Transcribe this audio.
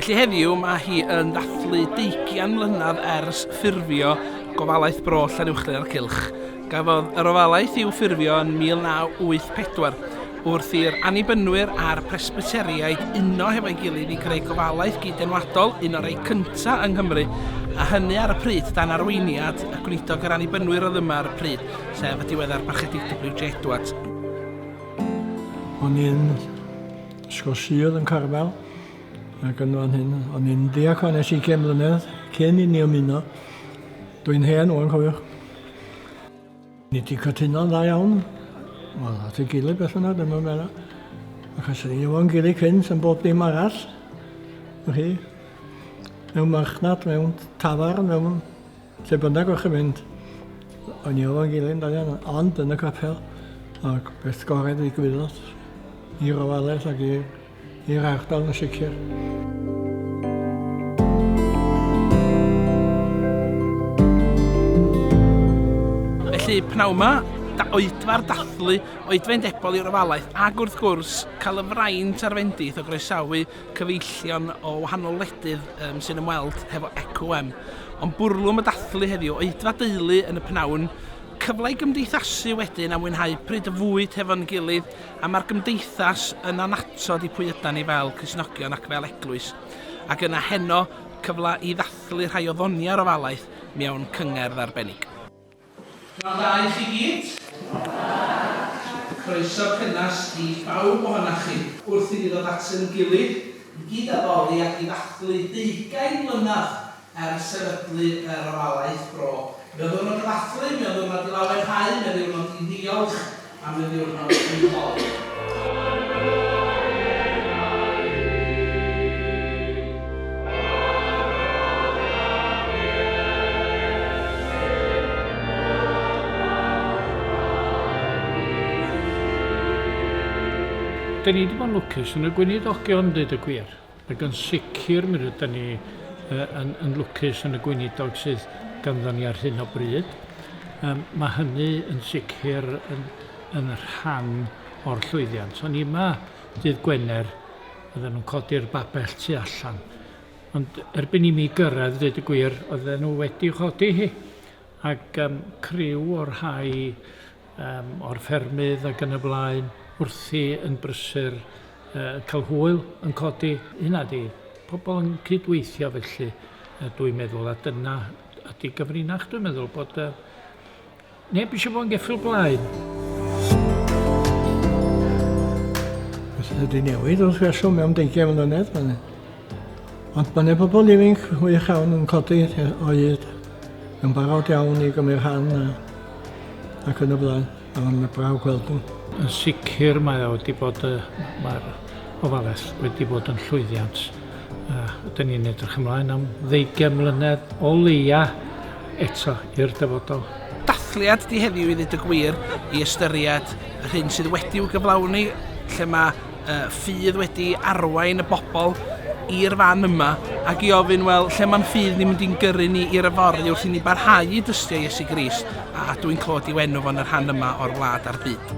Felly heddiw mae hi yn ddathlu deugian mlynedd ers ffurfio Gofalaeth Bro Llanuwchllyn a'r Cylch. Cafodd yr ofalaeth i'w ffurfio yn 1984, wrth i'r Annibynwyr a'r Presbyteriaid uno hefo'i gilydd i greu gofalaeth gyd-enwadol, un o'r rhai cyntaf yng Nghymru, a hynny ar y pryd dan arweiniad y Gweinidog yr Annibynwyr oedd yma ar y pryd, sef y diweddar Parchedig WJ. Edwards. O'n i'n Ysgol Sul yn Carmel, ac yn fan hyn, o'n i'n ddiacon es i cyn mlynedd, cyn i ni ymuno. Dwi'n hen, o'n cofiwch. Ni wedi cytuno'n dda iawn, wel, at ei gilydd beth yna, dyma fe yna. Achos ni efo'n gilydd cynt yn bob dim arall. Chi? Mewn marchnad, mewn tafar, mewn lle bynnag o'ch yn mynd. O'n ni efo'n gilydd da iawn, ond yn y capel. Ac beth gorau ddigwyddodd i'r ofalus ac i'r i'r ardal yn sicr. Felly, pnawn yma, da oedfa'r dathlu, oedfa'n debol i'r ofalaeth, ac wrth gwrs, cael y fraint a'r fendith o groesawu cyfeillion o wahanol wledydd um, sy'n ymweld hefo ECOM. Ond bwrlwm y dathlu heddiw, oedfa deulu yn y pnawn, cyfle i gymdeithasu wedyn a mwynhau pryd y fwyd hefo'n gilydd A mae'r Gymdeithas yn annatod i pwy ydan ni fel Cristnogion ac fel Eglwys, ac yna heno, cyfle i ddathlu rhai o ddoniau'r ofalaeth mewn cyngerdd arbennig. Pnawn da i chi gyd. Pnawn da. Croeso cynnes i bawb ohonoch chi. Wrth i ni ddod at ein gilydd i gyd-addoli ac i ddathlu deugain mlynedd Er sefydlu yr ofalaeth bro, mewn ddiwrnod y ddathlu, mewn ddiwrnod i lawenhau, mewn ddiwrnod i ddiolch a mewn ddiwrnod i holi. Dyn ni 'di bod yn lwcus yn y gweinidogion deud y gwir. Ac yn sicr mi rydan ni yn lwcus yn y Gweinidog sydd ganddo ni ar hyn o bryd. Mae hynny yn sicr yn rhan o'r llwyddiant. O'n i yma dydd Gwener, oedden nhw'n codi'r babell tu allan. Ond erbyn i mi gyrraedd, dweud y gwir, oedden nhw wedi chodi hi. Ac criw o rhai yym o'r ffermydd ac yn y blaen wrthi yn brysur yy ca'l hwyl yn codi hynna di pobol yn cydweithio felly yy dwi'n meddwl a dyna ydi gyfrinach dwi'n meddwl bod yy neb isio fo'n geffyl blaen. Felly wedi newid wrth reswm mewn deugian mlynedd ma' 'ne Ond mae 'na bobl ifinc wych iawn yn codi o hyd, yn barod iawn i gymryd rhan a, ac yn y blaen. A mae'n braf gweld nhw. Yn sicr mae o wedi bod, mae'r ofaledd wedi bod yn llwyddiant. A dyn ni'n edrych ymlaen am ddeugain mlynedd o leia eto i'r dyfodol dathliad di heddiw i ddweud y gwir i ystyried yr hyn sydd wedi'w gyflawni lle mae y ffydd wedi arwain y bobl i'r fan yma ac i ofyn, wel, lle mae'n ffydd ni'n mynd i'n gyrru ni i'r yfory wrth i ni barhau i dystio Iesu Grist a a dwi'n clywed i'w enw fo'n y rhan yma o'r wlad a'r byd.